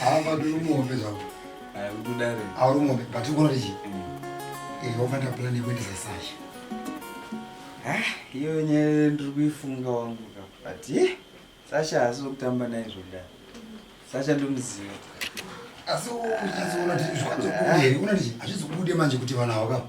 havabatiri muhombe zvavo auri muhombe but ikuona tichi wafanira plan yekuendesa sasha iyo nyaya ndiri kuifunga wangu ka but sasha haasi wekutamba naye zvokudaro sasha ndomuziva asi uchizoona tichizokubude uona tichi hazvizokubude manje kuti vanhu havo kapa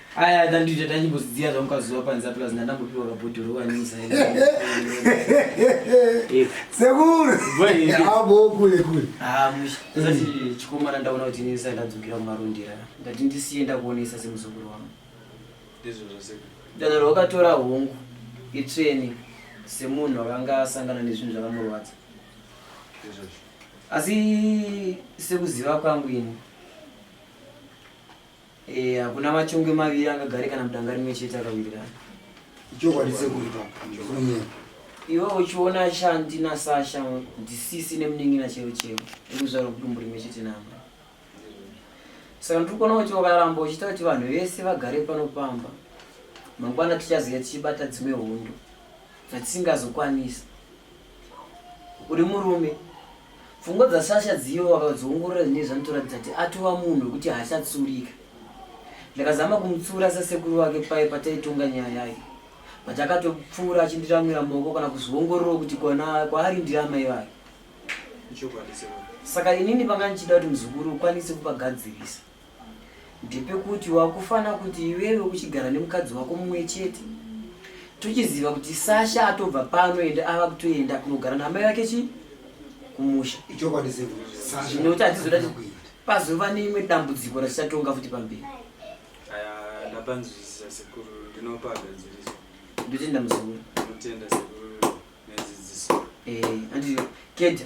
Aya ndandiita tanyibuziya zvamukazuva panze plus ndandangopiwa kabhodhoro wanisa. Sekuru. Bwe. Abo kule kule. Ah mushi. Sasa chikomana ndaona kuti nini sai ndadzukira kumarundira. Ndati ndisiye ndakuonesa semuzukuru wangu. Ndizvo zvose. Ndadaro wakatora hongu. Itreni semunhu akanga asangana nezvinhu zvakamurwadza. Ndizvo. Asi sekuziva kwangu ini. Eh, hakuna machongwe maviri angagare kana mudanga rimwe chete akawirirana. Ichokwadi sekuru ipapo. Ndikunyema. Iwe uchiona Shanti naSasha ndisisi nemunin'ina chero chero ekuzvarwa kudumbu rimwe chete navo. Saka ndiri kuona kuti ukaramba uchiita kuti vanhu vese vagare pano pamba mangwana tichaziva tichibata dzimwe hondo dzatisingazokwanisa. uri murume pfungwa dzasasha dziyo vakadziongorora zvinee zvanotoratidza kuti atova munhu wekuti haachatsurika ndakazama kumutsura sasekuru vake paye pataitonga nyaya yayo but akatopfuura achindiramwira maoko kana kuzviongororwa kuti kwaari ndiri amai vake saka inini panga ndichida kuti muzukuru ukwanise kupagadzirisa ndepekuti wakufana kuti iwewe uchigara nemukadzi wako mumwe chete tochiziva kuti sasha atobva pano ende ava kutoenda kunogara namai vake chi kumusha zvinoti hatizoda pazova neimwe dambudziko ratichatonga futi pamberi ndapanzwisisa sekuru ndinopa gadziriso ndotenda muzukuru ndotenda sekuru nedzidziso eh anditi keda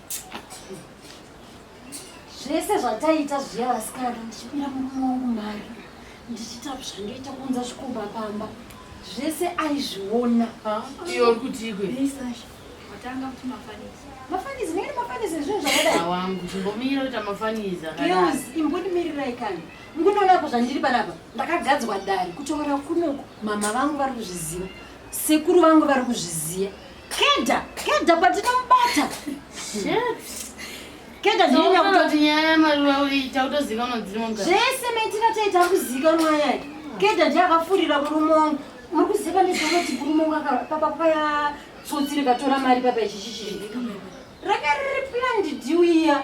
zvese zvataita zviya vasikana ndichipira murume wangu mari ndichiita zvandoita kuunza zvikomba pamba zvese aizviona iyo uri kutiiko watanga kuti mafanizi mafanizi nekuti mafanizi zvinhu zvakadaiwangu chimbomira kuita mafanizi akaios imbonimirirai kani ngunonako zvandiri panapa ndakagadzwa dare kutaura kunoku mama vangu vari kuzviziva sekuru vangu vari kuzviziva Keda, keda patinomubata. Shit. Keda ndinya kutoti nyaya maruwa uita utoziva unodzima mugara. Zvese maitira taita kuzika ruwa yake. Keda ndiye akafurira murume wangu. Muri kuziva nezvanoti murume wangu akapapa paya tsotsi rikatora mari papa ichichichirika. Raka riri planned deal iya.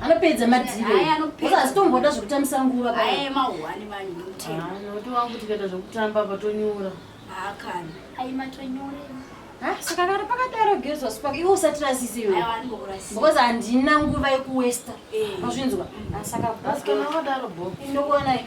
anopedza madiroazitomboda zvekutambisa nguva tikaita zvekutamba patonyura ah, saka kana pakadaro gezwa spak iwe usatirasise iwe because handina nguva yekuwesta eh. azvinzwa ah, saka ndokuonai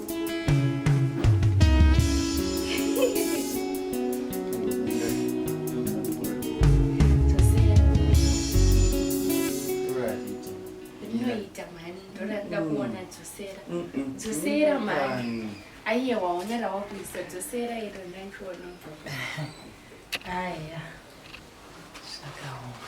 dzosera mani aiye waona rawakuisa dzosera iro ndandiona aya zvakaoma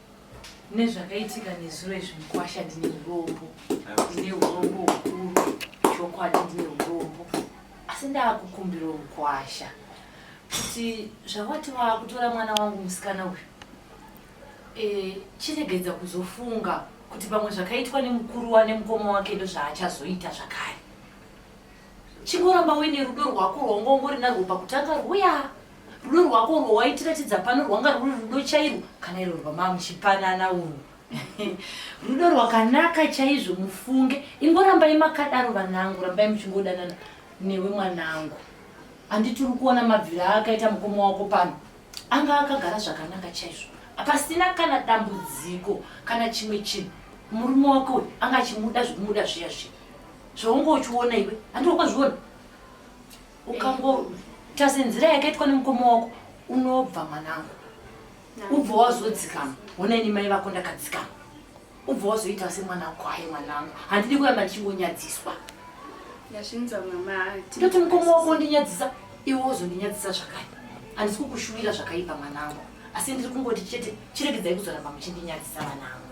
nezvakaitika nezuro izvi mukwasha ndine urombo ndine urombo hukuru chokwadi ndine urombo asi ndaakukumbira mukwasha kuti zvawati waakutora mwana wangu musikana uyu e, chiregedza kuzofunga kuti pamwe zvakaitwa nemukuru wa nemukoma wake ndozvaachazoita zvakare Chingoramba uine rudo rwako rwaunga ungori narwo pakutanga rwuya. Rudo rwako urwo waitiratidza pano rwanga rwuri rudo chairwo kana iro rwamava muchipanana urwo. Rudo rwakanaka chaizvo mufunge. Ingorambai makadaro vanangu, rambai muchingodanana newe mwanangu. Handiti uri kuona mabvira akaita mukoma wako pano? Anga akagara zvakanaka chaizvo. Pasina kana dambudziko kana chimwe chinhu. Murume wako uyu anga achimuda zvekumuda zviya zviya. zvaunge uchiona iwe handi wakazviona ukangotarisa nzira yakaitwa nemukoma wako unobva mwanangu ubva wazodzikama hona ini mai vako ndakadzikama ubva wazoita semwana kwaye mwanangu handidi kuramba ndichingonyadziswa ndoti mukoma wako ndinyadzisa iwe wozondinyadzisa zvakare handisi kukushuwira zvakaipa mwanangu asi ndiri kungoti chete chirege dzai kuzoramba muchindinyadzisa vanangu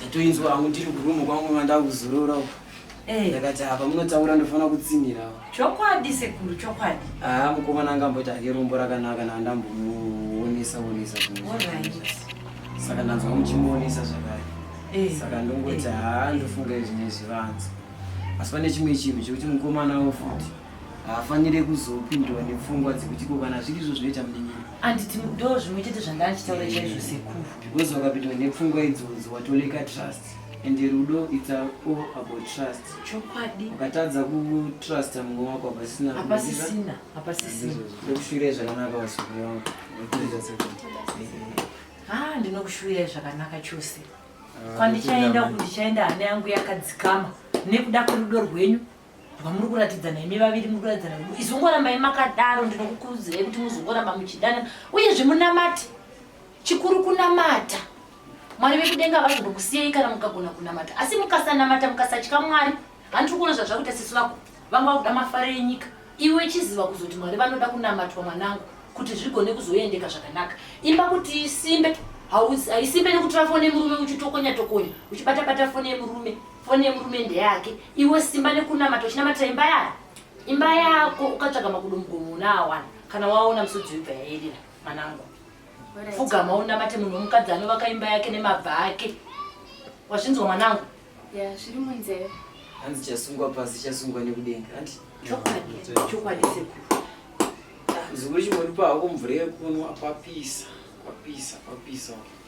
ndatoinzwa hangu ndiri kurumu kwangu mandava kuzorora uko eh. ndakati apa munotaura ndofanira kutsinhira chokwadi sekuru chokwadi haa mukomana angamboita hake rombo rakanaka naandambomuonesa onesa saka ndanzwa muchimuonesa zvakare eh. saka ndongoti eh. haa ndofunga izvi nezvivanzi asi pane chimwe chinhu chekuti mukomana wo futi haafanire kuzopindwa nepfungwa dzekuti ko kana zviri izvo zvinoita munin'ina anditi ndo zvimwe chete zvanga achitaura chaizvo sekuru because wakapindwa nepfungwa idzodzo watoleka trust and rudo its all about trust chokwadi ukatadza kutrusta mumwe wako hapasina hapasisina hapasisina ndokushuvirai zvakanaka vasukuru vangu ha ndinokushuvirai zvakanaka chose ah, kwandichaenda kundichaenda hana yangu yakadzikama nekuda kwerudo rwenyu vamuri kuratidzana imi vaviri muri kuratidzana kuti izongorambai makadaro ndinokukurudzirai kuti muzongoramba muchidana uyezve munamati chikuru kunamata mwari vekudenga vazondokusiyei kana mukagona kunamata asi mukasanamata mukasatya mwari handiri kuona zvazvakuita sisi vako vanga vakuda mafaro enyika iwe chiziva kuzoti mwari vanoda kunamatwa mwanangu kuti zvigone kuzoendeka zvakanaka imba kuti isimbe haisimbe nekutora foni yemurume uchitokonya tokonya uchibatabata foni yemurume foni yemurume ndeyake iwe simba nekunamata uchinamatira imba yako imba yako ukatsvaga makudo mugomo unaawana kana waona musodzi webva yaerera mwanangu fugama unamate munhu womukadzi anovaka imba yake nemabva ake wazvinzwa mwanangu zviri munzeve hanzi chasungwa pasi chasungwa nekudenga ati chokwadi chokwadi sekuru zikuru chimwe ndipa hako mvura yekunwa kwapisa kwapisa kwapisa okay.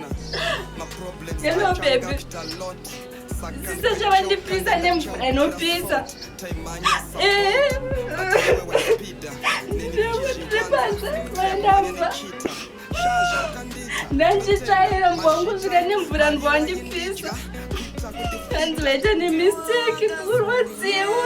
Hello baby. Sisa zvavandipisa nemvura inopisa. Eh. Ndapasa vandamba. Ndandichaira mbwangu svika nemvura ndwandipisa. Hanzi vaita nemistake kurwadziwa.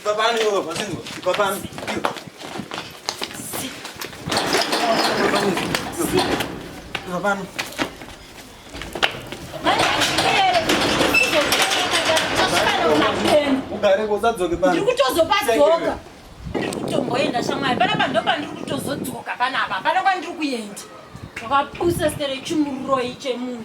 Ipapani iwe baba singo. Ipapani. Ipapani. Ugare kusadzoke pano. Ndiri kutozopadzoka. Ndiri kutomboenda shamwari. Panapa ndopandiri kutozodzoka panapa. Panapa ndiri kuenda. Wakapusa stere chimuroi chemunhu.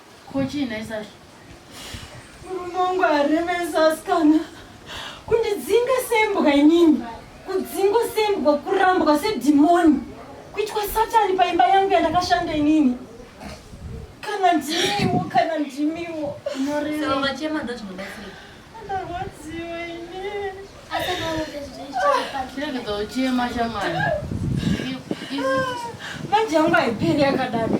Ko chii nhai Sasha? Murume wangu aremesa asikana kundidzinga sembwa inini kudzingwa sembwa kurambwa sedhimoni kuitwa satani paimba yangu yandakashanda inini kana ndimiwo kana ndimiwo unorevachema ndozvinobatsira ndarwadziwa inini chirekedza uchema shamwari manje yangu haiperi yakadaro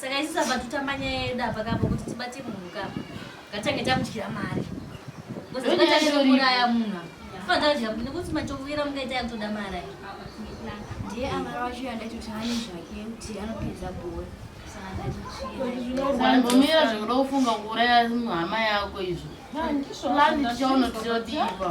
saka isu saba totamba nyaya yedu apa kapo kuti tibate munhu kapo ngatange tamudyira mari ngozibataauraya munhu fadadya nekuti matokuvira mungaita yakutoda mari ayo ndiye amara wacho yandaitoti hani zvake kuti anopedza bhora zvinomira zvekuda kufunga kuuraya hama yako izvo lani tichaona tichodiipa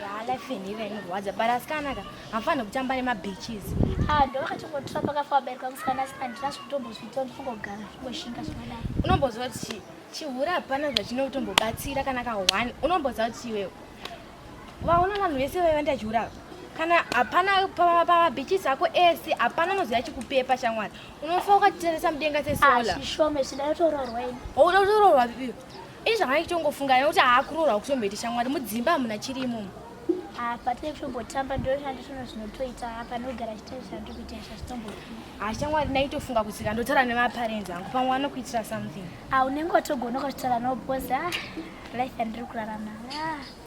yaa life yenyu ive inorwadza but asikana ka hamufanire kutamba nemabeaches ah, ndo vakachingotura pakafa vabereka musikana asi andina zvekutombozviita ndikungogara zvingoshinga zvakadai unomboziva kuti chihura hapana zvachinotombobatsira kana ka one unomboziva kuti iwewe vaona vanhu vese vaiva ndachihura kana hapana pamabeaches ako ese hapana unoziva chikupepa shamwari unofa ukatitarisa mudenga sesola ah, unoda kutoroorwa iwe Ini zvamaitongofunga nekuti haakuroorwa kutomboita shamwari mudzimba hamuna chiri imomo. Apa tiri kutombotamba ndoshanda zvino zvinotoita apa nogara chitarisira ndiri kuita izvo zvitombofuna. Haa shamwari ndaitoffunga kutsika ndotaura nemaparenzi angu pamwe vanokuitira something. Ah unenge watogonoka zvitaura no boss ah life yandiri kurarama ah.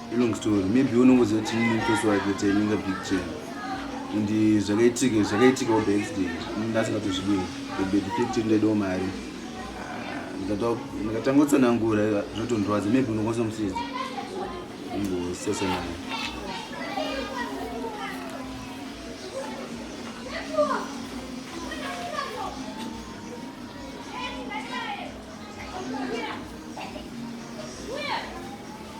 Long story. Maybe unongoziva kuti ini mutosi wake kuti inenge big chain. And zvakaitika zvakaitika by accident. Ndasingatozvidiwi. Maybe ndikiti ndaidawo mari. Ndikatanga kutsanangura zvotondirwadza. Maybe unokwanisa musisi. Ingosesa naye.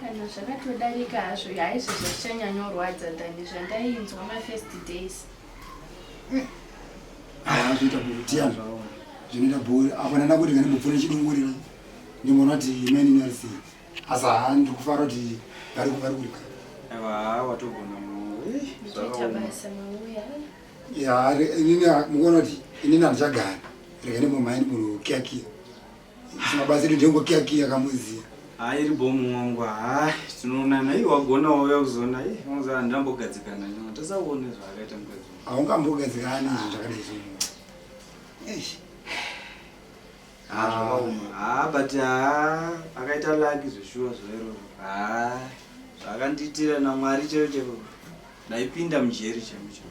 kana zvakatodarika hazvo haizvo zvazvichanyanyorwadza than zvandainzwa mafirst days haa zvinoita bhutiya zvinoita bhuri apana ndakuti kana ndopfona chidungurira ndimona kuti imani inarisi asi haa ndikufara kuti vari kuvari kuri haa watogona ya inini mukuona kuti inini handichagara rega ndimbomaini munhu kiakia Zvimabatsiri ndengo kia kia kamuziya. Hayi iri bomu wangu hayi tinoonana iye wagona wauya kuzoona iye unozaa handambogadzikana nyama tasaone zvaakaita mukadzi haungambogadzikana izvo zvakadai zvinhu haa but haa akaita laki zveshuwa zvairoro haa zvakandiitira namwari chero chero ndaipinda mujeri chemo chero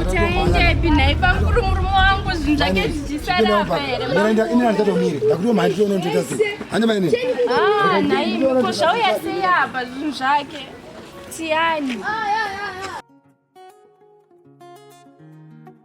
Utaendepi nhai pamkuru murume wangu zvinhu zvake zvichisara apa here? Ini handichatomiri ndakuti mhandi tione ndoita sei. Hande maine. Ah, nhai ko zvauya sei apa zvinhu zvake? Tiani. Ah, yeah, yeah.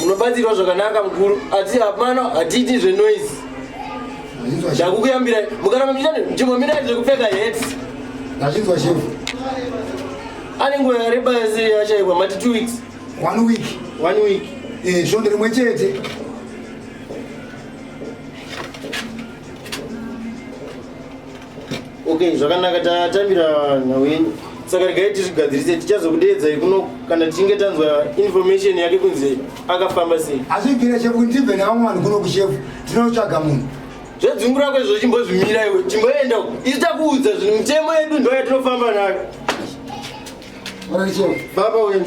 munobatsirwa zvakanaka mukuru asi hapana hatiiti zvenoise ndakukuyambirai mukaramba muchitani chimbomirai zvekupfeka hats ndazvinzwa shefu ane nguva yareba yese yashaikwa mati two weeks one week one week eh, svondo rimwe chete okay zvakanaka tatambira nhau yenyu saka regai tizvigadzirise tichazokudeedzai kuno kana tichinge tanzwa information yake kunzi akafamba sei hazvibvira chefu ndibve nevamwe vanhu kuno kuchefu tinotsvaga munhu zvedzungu rako izvo chimbozvimira iwe chimboenda isu takuudza zvinhu mitemo yedu ndo yatinofamba nayo baba wenyu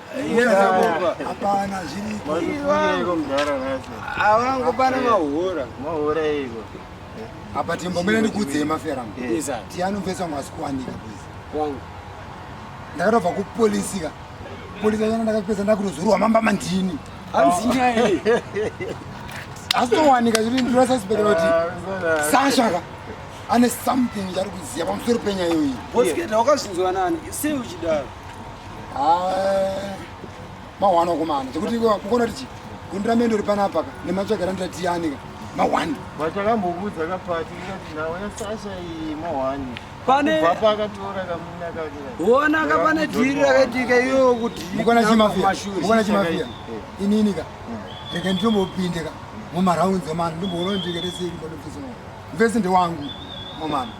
Hapana zviriko. Avangopana mahura. Mahura iko. Apa timbomira nikudzei mafera. Tiano mvesa ngwasi kuwanika please. Wangu. Ndakatobva kupolisi ka. Polisi yana ndakapedza ndakunozurwa mamba mandini. Hanzi nyaya iyi. Asitowanika zviri ndinosaspekera kuti ah, Sasha ka ane something chari kuziva pamusoro penyaya iyoyi. Boss Keta wakazvinzwa nani? Sei uchidaro? mahwani wakomana chekuti ukona kuti chii gundi ramendo uri panapa ka nematsvaga randira tiyani ka mahwani vatakambokudza kapati ikati naona sasha iyi mahwani ona ka pane dhiri rakaitika iyoyo kuti mukona chimafia mukona chimafia eh. inini ka hmm. rega nditombopinde ka mumaraunzi omana ndimboona ndikatesei mvese ndewangu omana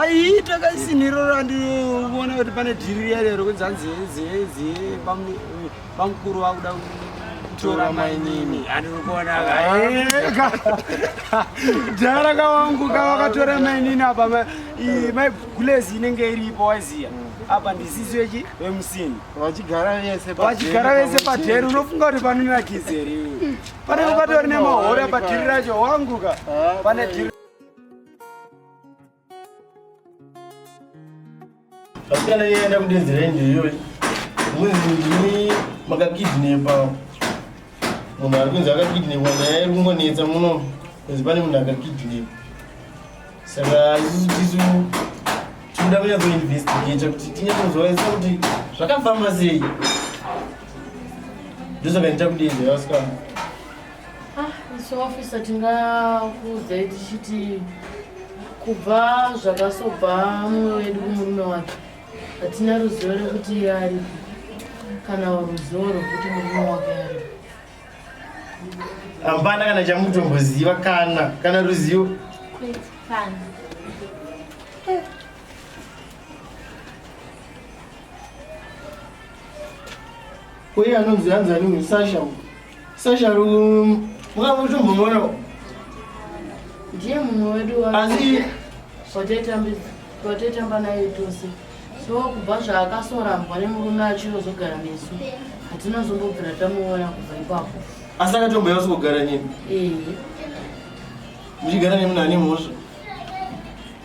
ayi takasinhiro randivona kuti pane dhiri riya riya rokunzi hanzi hezi hezi bamukuru vakuda kutora mainini andikuona dhara kawangu kavakatora mainini apa maigulezi inenge iripo waiziya mm apa ndisisi wechi wemusini vachigara vese vachigara vese padheri unofunga kuti panonira kizeri panenge patori nemahora padhiri racho wanguka ah, pane dhiri vasikana iye aenda kudedzi renje iyoyi muzindimi makakidnepa munhu ari kunzi akakidnepa nyaya iri kungonetsa muno kunzi pane munhu akakidnepa saka isusu tisu tinoda kunyatsoinvestigata kuti tinyatsozoaisa kuti zvakafamba sei ndosaka ndita kudedzi vasikana Ah, isu officer tingakuudzai tichiti kubva zvakasobva mumwe wedu kumurume wake hatina ruzivo rekuti iye aripi kana ruzivo rwekuti murume wake aripi hapana kana chamutomboziva kana kana ruzivo Uye anonzi hanzi ani uyu Sasha uyu. Sasha um, mukambotombomuona uyu. Ndiye mumwe wedu wa Asi wataitambidza wataitamba naye tose. So kubva zvaakasorambwa nemurume achirozogara nesu. Hatina zombobvira tamuona kubva ipapo. asi akatomboya usikugara nyini. Eh. Muchigara nemunhu ane mhosva.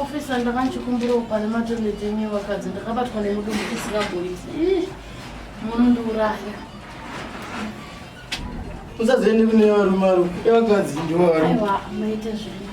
ofisa ndakanchikumbirawo pane matoilet enyu vakadzi ndakabatwa nemudumbu tisingagurisi munondiuraya usaziende kune varume aro evakadzi ndivo varume maita zvino